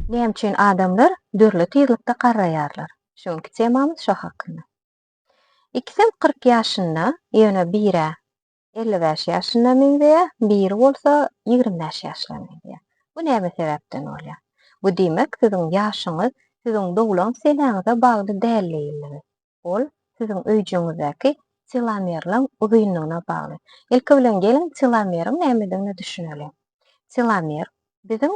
Näme üçin adamlar dürli tizlikde garraýarlar? Şu günki temamyz şo hakynda. Ikisem kyrk ýaşynda, ýöne bir-ä elli bäş ýaşyna meňzeýär, biri bolsa ýigrimi bäş ýaşyna meňzeýär. Bu näme sebäpden bolýar? Bu diýmek, siziň ýaşyňyz siziň doglan senäňize bagly däldigini Ol siziň öýjügiňizdäki telomerleň uzynlygyna bagly. Ilki bilen geliň telomeriň nämedigine düşüneliň. Telomer biziň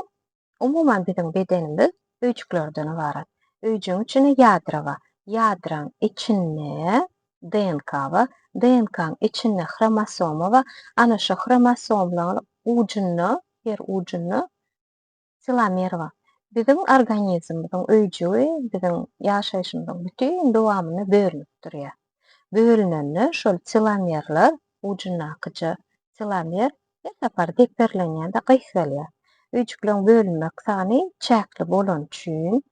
umuman biziň bedenimiz öýjüklerden ybarat. Öýjügiň içinde ýadro bar. Ýadroň içinde DNK bar. DNK-nyň içinde hromosoma bar. Ana şu hromosomlaň ujunda, her ujunda Tilomerwa, biziň organizmimiziň öýjügi biziň ýaşaýşymyzyň bütin dowamynda bölünip durýar. Bölünende şol tilomerler, ujundakyja tilomer her sapar deperlenýär-de gysgalýar. Öýjükleriň bölünmek sany çäkli bolany üçin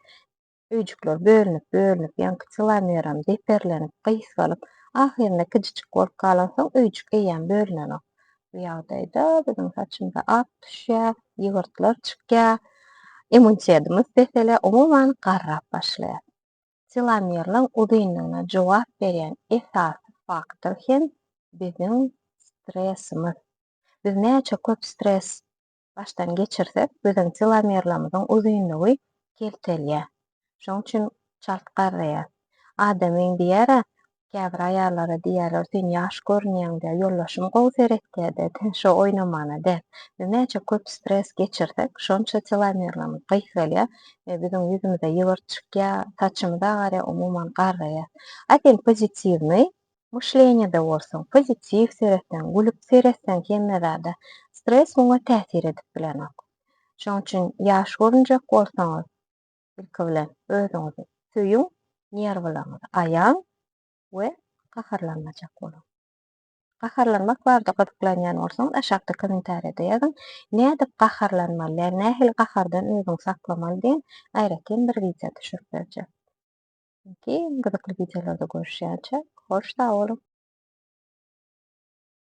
Öýjükler bölünip, bölünip, ýaňky kilomeram deperlenip, gysgalyp, ahyrynda kijiçik bolup galansoň, öýjük eýýäm bölünenok. Bu ýagdaýda biziň saçymyza ak düşýär, ýygyrtlar çykýar, immunitedimiz peselýär, umuman, garrap başlaýar. Telomerlaň uzynlygyna jogap berýän esasy faktor hem biziň stresimiz. Biz näçe köp stres başdan geçirsek, biziň telomerlerimiziň uzynlygy keltelýär. Şonuň üçin çalt garraýar. Adamyň diýer-ä, käbir aýallara diýerler, sen ýaş görünýäň diýer, ýoldaşym gowy seretýär-de, sen şo oýnamana däl. Biz näçe köp stres geçirsek, şonça telomerlerimiz gysgalýar we biziň ýüzümize ýygyrt çykýar, saçymyz agarýar, umuman garraýar. A sen pozitiwnyý, Myşleniýede bolsaň, pozitiw seretseň, gülüp seretseň hemme zada, stres muňa täsir edip bilenok. Şonuň üçin ýaş görünjek bolsaňyz, ilki bilen özüňizi söýüň, nerwlaryňyzy aýaň we gaharlanmajak boluň. Gaharlanmak barada gyzyklanýan bolsaňyz, aşakda kommentariýada ýazyň, nädip gaharlanmaly ýa nähili gahardan özüňi saklamaly diýen aýratyn bir wideo düşürip berjek. Geň gyzykly wideolarda görüşýänçä hoş sag boluň.